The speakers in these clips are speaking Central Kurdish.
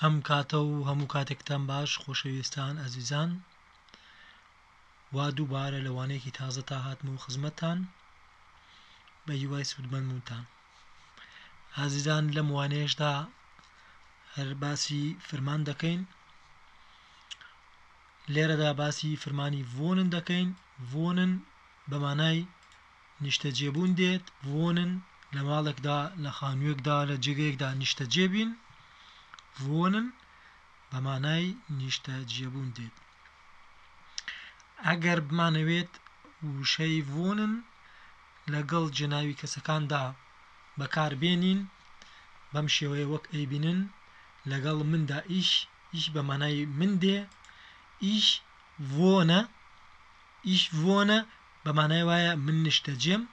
ئەم کاتە و هەموو کاتێکتان باش خۆشەویستان ئەزیزان وا دووبارە لە وانەیەکی تازە تا هاتم و خزمەتان بە هیوای سوودمەند بوونتان ئازیزان لەم وانەیەشدا هەر باسی فرمان دەکەین لێرەدا باسی فرمانی ڤۆنن دەکەین ڤۆنن بەمانای نیشتەجێبوون دێت، Wohnen، لە ماڵێکدا، لە خانوویەکدا، لە جێگەیەکدا نیشتەجێ بین، Wohnen، بە مانای نیشتەجێبوون دێت. ئەگەر بمانەوێت وشەی Wohnen لەگەڵ جێناوی کەسەکاندا بەکار بێنین بەم شێوەیە وەک ئەیبینن لەگەڵ مندا Ich، Ich بە مانای من دێ، Ich wohne، Ich wohne بە مانای وایە من نیشتەجێم،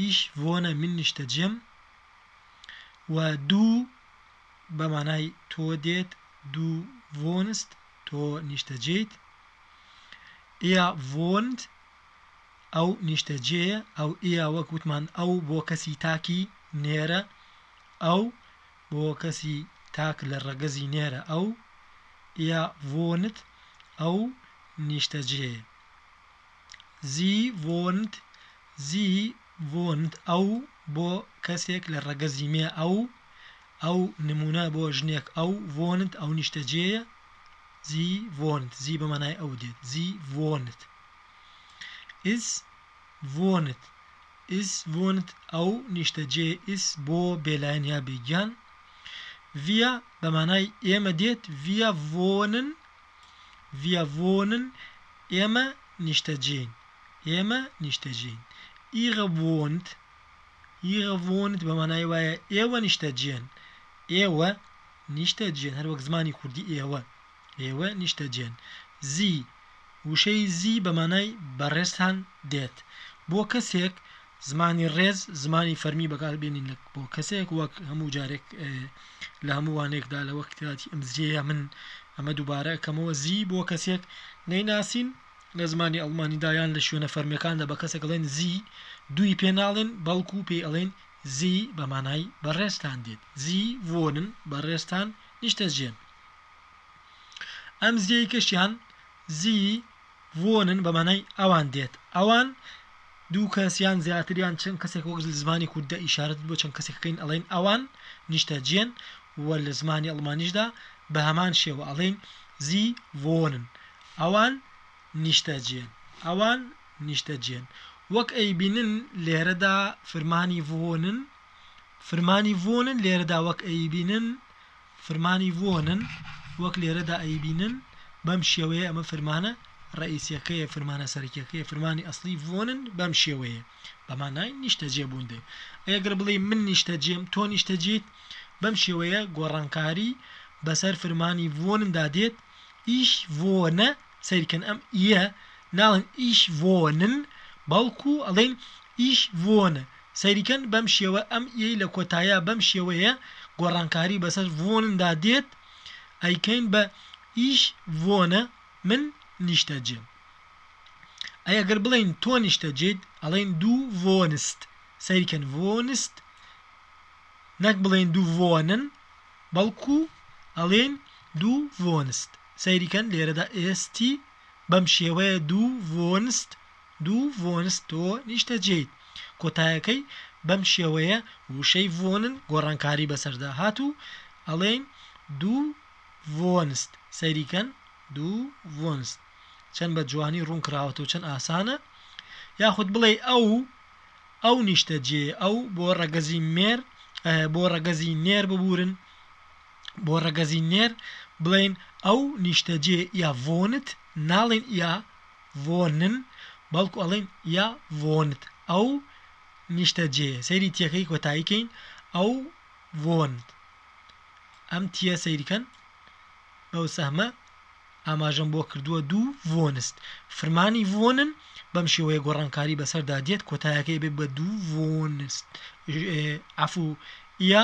Ich wohne من نیشتەجێم، و Du بە مانای تۆ دێت، Du wohnst تۆ نیشتەجێیت، Er wohnt ئەو نیشتەجێیە، ئەو Er وەک وتمان ئەو بۆ کەسی تاکی نێرە، ئەو بۆ کەسی تاک لە ڕەگەزی نێرە، ئەو Er wohnt ئەو نیشتەجێیە. زی وۆند زی وۆند ئەو بۆ کەسێک لە ڕەگەزی مێ ئەو ئەو نموونە بۆ ژنێک ئەو وۆند ئەو نیشتەجێیە زی وۆند زی بە مانای ئەو دێت زی وۆند ئیس وۆند ئیس وۆند ئەو نیشتەجێ ئیس بۆ بێلایەن یا بێگیان ڤیا بە مانای ئێمە دێت ڤیا وۆنن Wir wohnen، ئێمە نیشتەجێین، ئێمە نیشتەجێین. Ihre wohnt، Ihre wohnt بە مانای وایە ئێوە نیشتەجێن، ئێوە نیشتەجێن، هەر وەک زمانی کوردی ئێوە، ئێوە نیشتەجێن. Sie، وشەی Sie بە مانای بەڕێزتان دێت بۆ کەسێک زمانی ڕێز زمانی فەرمی بەکار بێنین لە بۆ کەسێک وەک هەموو جارێک لە هەموو وانێکدا لە وەک کاتی ئەم زیەیە من ئەمە دووبارە کەمەوە زی بۆ کەسێک نەیناسین لە زمانی ئەڵمانیدایان لە شوێنە فەرمیەکاندا بە کەسێک ڵێن زی دووی پێ ناڵێن بەڵکو و پێی ئەڵێن زی بە مانای بەڕێزتان دێت زی وۆنن بەڕێزتان نیشتە جێن ئەم زیەی کەشیان زی وونن بە مانای ئەوان دێت. ئەوان، دوو کەس یان زیاتر یان چەند کەسێک وەک لە زمانی کورددا ئیشارەت بۆ چەند کەسێک ئەکەین ئەڵێین ئەوان نیشتەجێن و لە زمانی ئەڵمانیشدا بە هەمان شێوە ئەڵێین زی وونن ئەوان نیشتەجێن ئەوان نیشتەجێن وەک ئەیبینن لێرەدا فرمانی وونن فرمانی وونن لێرەدا وەک ئەیبینن فرمانی ڤۆنن وەک لێرەدا ئەیبینن بەم شێوەیە ئەمە فرمانە ڕئیسیەکەیە فرمانە سەرەکیەکەیە فرمانی ئەسڵی ڤۆنن بەم شێوەیە بەمانای نیشتەجێ بوون دێ ئەگەر بڵێ من نیشتەجێم تۆ نیشتەجیت بەم شێوەیە گۆڕانکاری بەسەر فرمانی ڤۆندا دێت ئیش ڤۆنە سەیر کەن ئەم ئیە ناڵێن ئیش ڤۆ نن بەڵکو ئەڵێن ئیش ڤۆ نە سەیری کەن بەم شێوە ئەم ئیەی لە کۆتاییا بەم شێوەیە گۆڕانکاری بەسەر ڤۆ نن دا دێت ئەیکەین بە ئیش ڤۆ نە من نیشتە جێم ئەی ئەگەر بڵێین تۆ نیشتە جێیت ئەڵێن دوو ڤۆ نست سەیر کەن ڤۆ نست نەک بڵێن دوو ڤۆ نن بەڵکو ئەڵێن دوو ڤۆ نست سەیری کەن لێرەدا st بەم شێوەیە دوو ڤۆنست دوو ڤۆنست تۆ نیشتەجێیت کۆتایەکەی بەم شێوەیە وشەی ڤۆنن گۆڕانکاری بەسەردا هات و ئەڵێین دوو ڤۆنست سەیری کەن دوو ڤۆنست چەند بە جوانی ڕوون کراوەتە و چەند ئاسانە یاخود بڵێ ئەو ئەو نیشتەجێ ئەو بۆ ڕەگەزی مێر بۆ ڕەگەزی نێر ببورن بۆ ڕەگەزی نێر بڵێین ئەو نیشتەجێ یا ڤۆنت ناڵێین یا ڤۆنن بەڵکو ئەڵێین یا ڤۆنت ئەو نیشتەجێ سەیری تیەکەی کۆتایی کەین ئەو ڤۆنت ئەم تیە سەیرکەن بەو سەهمە ئاماژەم بۆ کردووە دوو ڤۆنست فرمانی ڤۆنن بەم شێوەیە گۆڕانکاری بەسەردا دێت کۆتایەکەی بێ بە دوو ڤۆنست عفو یا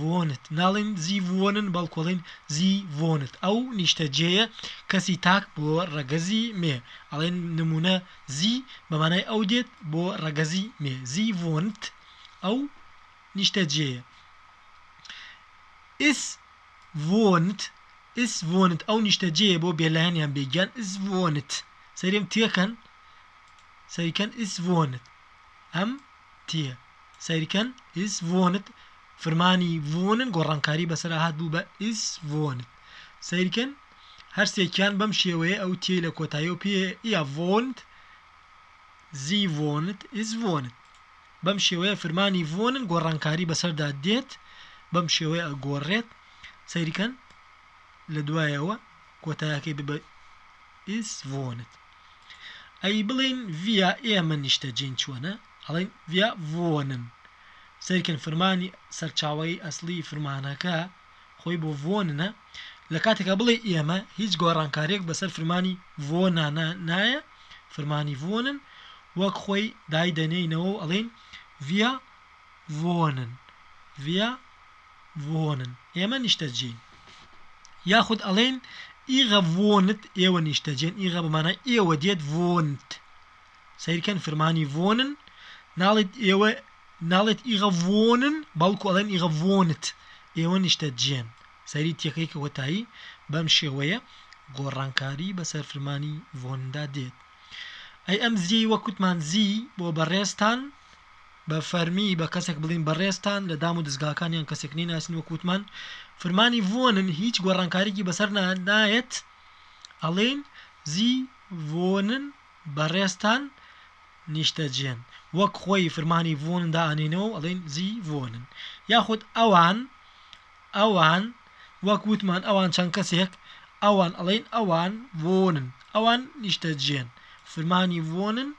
وۆنت ناڵێین زی وۆنن بەڵکو ئەڵێین زی وۆنت ئەو نیشتەجێیە کەسی تاک بۆ ڕەگەزی مێ ئەڵێن نموونە زی بە مانای ئەو دێت بۆ ڕەگەزی مێ زی وۆنت ئەو نیشتەجێیە ئیس وۆنت ئیس وۆنت ئەو نیشتەجێیە بۆ بێلایەن یان بێگیان ئیس وۆنت سەیرم تێکەن سەیکەن ئیس وۆنت ئەم تیە سەیر کەن ئیس ڤۆنت فرمانی ڤۆنن گۆڕانکاری بەسەرا هات بوو بە ئیس ڤۆنت سەیرکەن هەرسێکیان بەم شێوەیە ئەو تێی لە کۆتایی و پێ یا ڤۆنت زیڤۆنت ئیزڤۆنت بەم شێوەیە فرمانی ڤۆنن گۆڕانکاری بەسەردا دێت بەم شێوەیە ئەگۆڕێت سەیرکەن لە دوایەوە کۆتایەکەی ببە ئیزڤۆنت ئەی بڵێین ڤیا ئێمە نیشتەجێین چۆنە؟ ئەڵێن ڤیا ڤۆنن. سەیرکەن فرمانی سەرچاوەی ئەسڵی فرمانەکە خۆی بۆ ڤۆننە، لە کاتێکا بڵێی ئێمە هیچ گۆڕانکارییەک بەسەر فرمانی ڤۆننانا نایە، فرمانی ڤۆنن وەک خۆی دایدەنێینەوە و ئەڵێین ڤیا ڤۆنن، ڤیا. ڤۆنن، ئێمە نیشتەجێین. یاخود ئەڵێین، ئیغە ڤۆنت، ئێوە نیشتەجێن، ئیغە بە مانای ئێوە دێت، ڤۆنت. سەیرکەن فرمانی ڤۆنن، ناڵێت ئێوە، ناڵێت ئیغە ڤۆنن، بەڵکو ئەڵێن ئیغە ڤۆنت، ئێوە نیشتەجێن. سەیری تەکەی کۆتایی بەم شێوەیە گۆڕانکاری بەسەر فرمانی ڤۆنندا دێت. ئەی ئەم زیەی وەک وتمان زی بۆ بەڕێزتان بە فەرمی بە کەسێک بڵین بەڕێزتان لە دام و دەزگاکان یان کەسێک نەیناسین وەک وتمان فرمانی ڤۆنن هیچ گۆڕانکاریکی بەسەر نایەت ئەڵێین زی ڤۆنن بەڕێزتان نیشتەجێن وەک خۆی فرمانی ڤۆنن دائەنێینەوە و ئەڵێین زی ڤۆنن یاخود ئەوان ئەوان، وەک وتمان ئەوان چەند کەسێک، ئەوان ئەڵێن ئەوان وۆنن، ئەوان نیشتەجێن، فرمانی وۆنن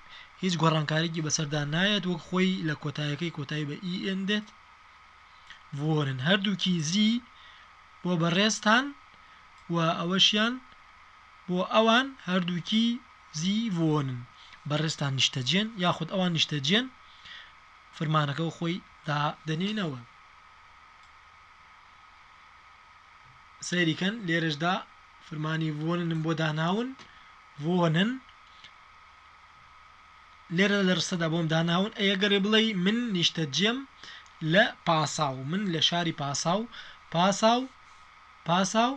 هیچ گۆڕانکاریکی بەسەردا نایەت وەک خۆی لە کۆتایەکەی کۆتایی بە ئی ئێن دێت، وۆنن هەردووکی زی بۆ بەڕێزتان و ئەوەشیان بۆ ئەوان هەردووکی زی وۆنن، بەڕێزتان نیشتەجێن یاخود ئەوان نیشتەجێن فرمانەکە خۆی دادەنێینەوە. سەیری کەن لێرەشدا فرمانی وۆننم بۆ داناون وۆنن لێرە لە ڕستەدا بۆم داناون ئەگەرێ بڵێ من نیشتە جێم لە پاساو من لە شاری پاساو پاساو پاساو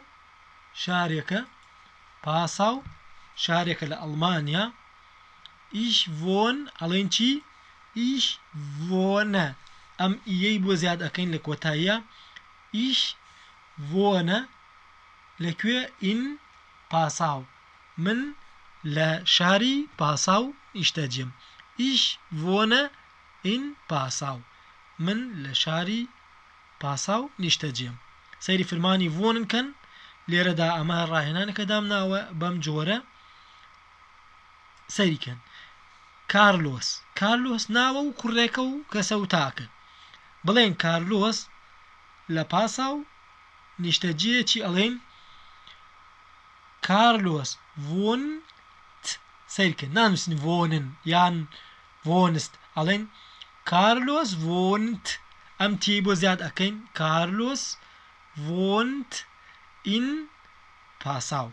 شارێکە پاساو شارێکە لە ئەڵمانیا ئیش ڤۆن ئەڵێین چی؟ ئیش ڤۆنە ئەم ئیەی بۆ زیاد ئەەکەین لە کۆتاییە ئیش ڤۆنە لەکوێ ئین پاساو من لە شاری پاساو ئیشتەجێم ئیش ڤۆنە ئین پاساو من لە شاری پاساو نیشتەجێم سەیری فرمانی ڤۆنن کەن لێرەدا ئەمە ڕاهێنانەکە دامناوە بەم جۆرە سەیری کەن کارلۆس کارلۆس ناوە و کوڕێکە و کەسە و تاکە بڵێن کارلۆس لە پاسا و نیشتەجێیەکی ئەڵێن کارلۆس ڤۆن سەیرکە نانووسن ڤۆنن یان ڤۆنست ئەڵێن کارلۆس ڤۆنت ئەم تی بۆ زیاد ئەەکەین کارلۆس ڤۆنت ئین پاساو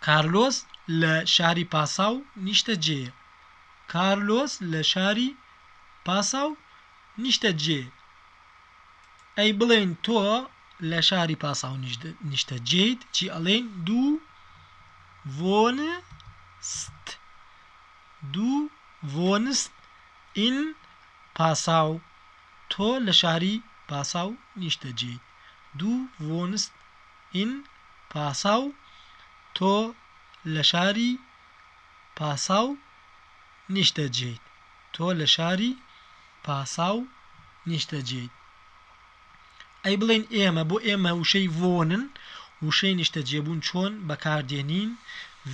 کارلۆس لە شاری پاساو نیشتەجێیە. کارلۆس لە شاری پاساو نیشتەجێیە. ئەی بڵێین تۆ لە شاری پاساو نیشتەجێیت چی ئەڵێین دوو ڤۆنست دوو ڤۆنست ئین پاساو تۆ لە شاری پاساو نیشتەجێیت دوو ڤۆنست این پاساو تۆ لە شاری پاساو نیشتەجێیت تۆ لە شاری پاساو نیشتەجێیت ئەی بڵێین ئێمە بۆ ئێمە وشەی ڤۆنن وشەی نیشتەجێبوون چۆن بەکاردێنین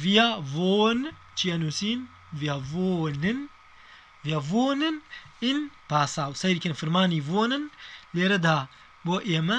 ڤیا ڤۆن چیە نووسین ڤیا ڤۆنن ڤیا ڤۆنن ئین پاساو سەیرکن فرمانی ڤۆنن لێرەدا بۆ ئێمە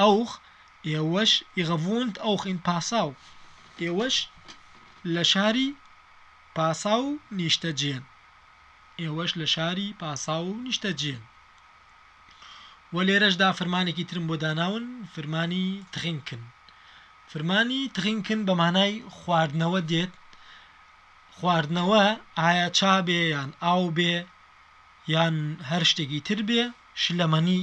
ئەوخ ئێوەش ئیغەڤوونت ئەوخ ئین پاساو ئێوەش لە شاری پاساو نیشتەجێن ئێوەش لە شاری پاساو نیشتەجێن وە لێرەشدا فرمانێکی ترم بۆ داناون فرمانی تغینکن فرمانی تغینکن بە مانای خواردنەوە دێت خواردنەوە ئایا چا بێ یان ئاو بێ یان هەر شتێکی تر بێ شلەمەنی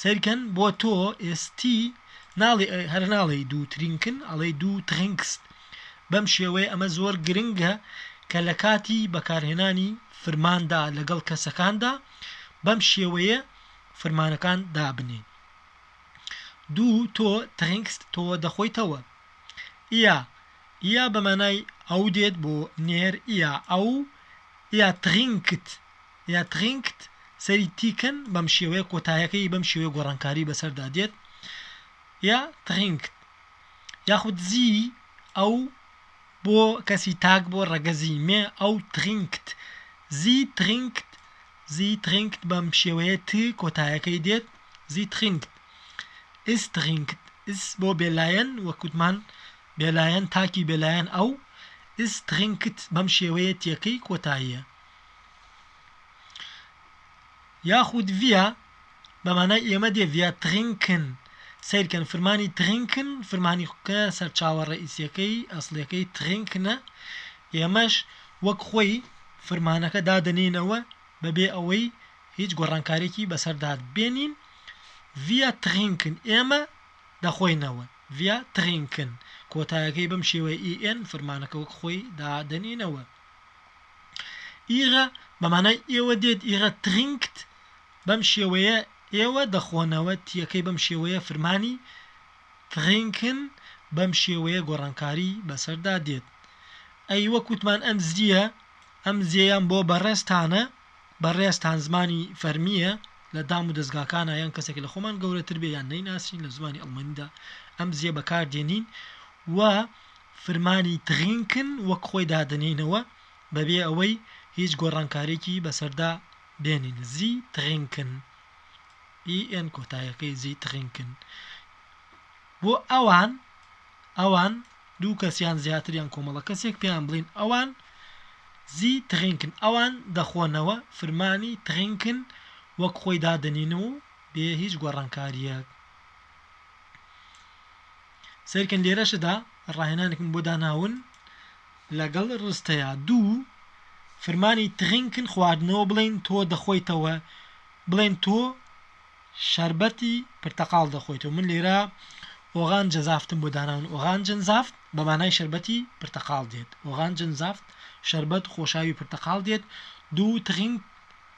سەیرکەن بۆ تۆ ئێستی ناڵێ هەر ناڵێی دوو ترینکن ئەڵێی دوو تخنکست بەم شێوەیە ئەمە زۆر گرنگە کە لە کاتی بەکارهێنانی فرماندا لەگەڵ کەسەکاندا بەم شێوەیە فرمانەکان دابنێ دوو تۆ تخنکست تۆ دەخۆیتەوە ئیا ئیا بەمانای ئەو دێت بۆ نێر ئیا ئەو ئیا تخینکت یا تڕینکت سەری تیکن بەم شێوەیە کۆتایەکەی بەم شێوەیە گۆڕانکاری بەسەردا دێت یا تڕینکت یاخود زی ئەو بۆ کەسی تاک بۆ ڕەگەزی مێ ئەو تڕینکت زی تڕینکت زی تڕینکت بەم شێوەیە ت کۆتایەکەی دێت زی تڕینکت ئیس تڕینکت ئیس بۆ بێلایەن وەکوتمان بێلایەن تاکی بێلایەن ئەو ئیس تڕینکت بەم شێوەیە تیەکەی کۆتاییە یاخود ڤیا بە مانای ئێمە دێ ڤیا تڕینکن سەیرکەن فرمانی تڕینکن فرمانی کە سەرچاوە ڕەئیسیەکەی ئەسڵیەکەی تڕینکنە ئێمەش وەک خۆی فرمانەکە دادەنێینەوە بەبێ ئەوەی هیچ گۆڕانکارێکی بەسەردا بێنین ڤیا تڕینکن ئێمە دەخۆینەوە ڤیا تڕینکن کۆتایەکەی بەم شێوەی ئیئن فرمانەکە وەک خۆی دادەنێینەوە ئیغە بە مانای ئێوە دێت ئیغە تغینکت بەم شێوەیە ئێوە دەخۆنەوە تیەکەی بەم شێوەیە فرمانی تغینکن بەم شێوەیە گۆڕانکاری بەسەردا دێت ئەی وەک وتمان ئەم زیە ئەم زێیان بۆ بەڕێزتانە بەڕێزتان زمانی فەرمییە لە دام و دەستگاکانە یان کەسێک لە خۆمان گەورەتر بێ یان نەیناسین لە زمانی ئەڵمانیدا ئەم زیە بەکاردێنین و فرمانی تغینکن وەک خۆی دادەنێینەوە بەبێ ئەوەی هیچ گۆڕانکاریەکی بەسەردا بێنین زی تغینکن EN کۆتایەکەی زی تغینکن بۆ ئەوان ئەوان دوو کەسیان زیاتریان کۆمەڵە کەسێک پێیان بڵین ئەوان زی تغینکن ئەوان دەخۆنەوە فرمانی تغینکن وەک خۆی دادەنین و بێ هیچ گۆڕانکاریەک سەیرکەن لێرەشدا ڕاهێنانێکم بۆ داناون لەگەڵ ڕستەیە دوو فرمانی تغینکن خواردنەوە بڵین تۆ دەخۆیتەوە بڵێن تۆ شربەتی پرتەقاڵ دەخۆیتەوە من لێرە ئۆغان جەزافتم بۆ داناون ئۆغان جنزافت بەمانای شربەتی پرتەقاڵ دێت ئۆغان جنزافت شربەت خۆشاوی پرتەقاڵ دێت دوو تغین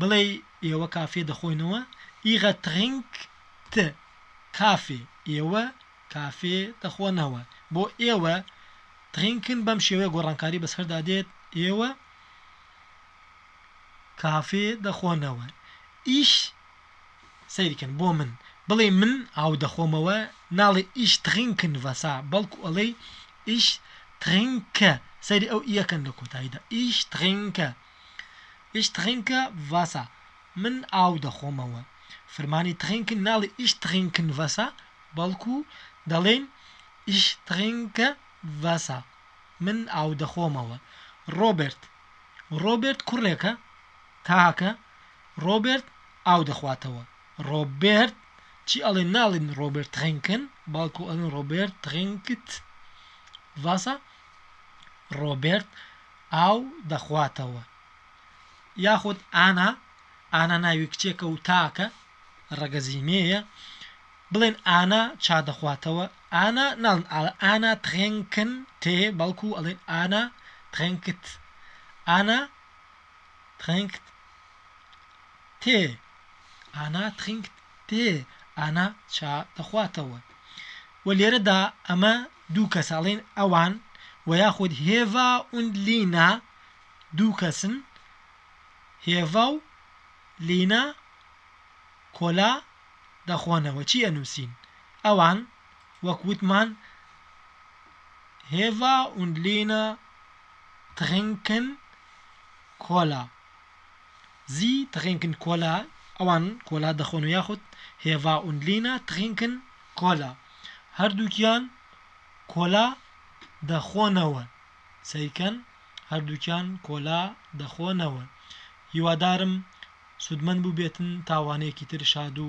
بڵێی ئێوە کافێ دەخۆینەوە ئیغە تڕینک ت کافێ ئێوە کافێ دەخۆنەوە بۆ ئێوە تڕینکن بەم شێوەیە گۆڕانکاری بەسەردا دێت ئێوە کافێ دەخۆنەوە ئیش سەیرکەن بۆ من بڵێ من ئاو دەخۆمەوە ناڵێ ئیش تڕینکن ڤەسا بەڵکو ئەڵێی ئیش تڕینکە سەیری ئەو یەکەن لە کۆتاییدا ئیش تڕینکە ئیش تڕینکە ڤاسا، من ئاو دەخۆمەوە. فرمانی تڕینکن ناڵێین ئیش تڕینکن ڤاسا، بەڵکو دەڵێین ئیش تڕینکە ڤاسا، من ئاو دەخۆمەوە. ڕۆبێرت، ڕۆبێرت کوڕێکە تاکە، ڕۆبێرت ئاو دەخواتەوە. ڕۆبێرت چی ئەڵێن ناڵێن ڕۆبێرت تڕینکن، بەڵکو ئەڵێن ڕۆبێرت تڕینکت ڤاسا، ڕۆبێرت ئاو دەخواتەوە یاخود ئانا ئانا ناوی کچێکە و تاکە ڕەگەزی مێیە بڵێن ئانا چا دەخواتەوە ئانا ناڵن ئانا ترێنکن تێ بەڵکو ئەڵێن ئانا ترێنکت ئانا ترێنکت تێ ئانا ترینکت تێ ئانا چا دەخواتەوە و لێرەدا ئەمە دوو کەس ئەڵێن ئەوان و یاخود هێڤا ئوند لینا دوو کەسن، هێڤا و لینا کۆلا دەخۆنەوە چی ئەنووسین؟ ئەوان وەک وتمان هێڤا ئوند لینا تڕینکن کۆلا زی تڕینکن کۆلا ئەوان کۆلا دەخۆن و یاخود هێڤا ئوند لینا تڕینکن کۆلا، هەردووکیان کۆلا دەخۆنەوە سەیرکەن هەردووکیان کۆلا دەخۆنەوە هیوادارم سودمەند بوبێتن تاوانەیەکی تر شادو.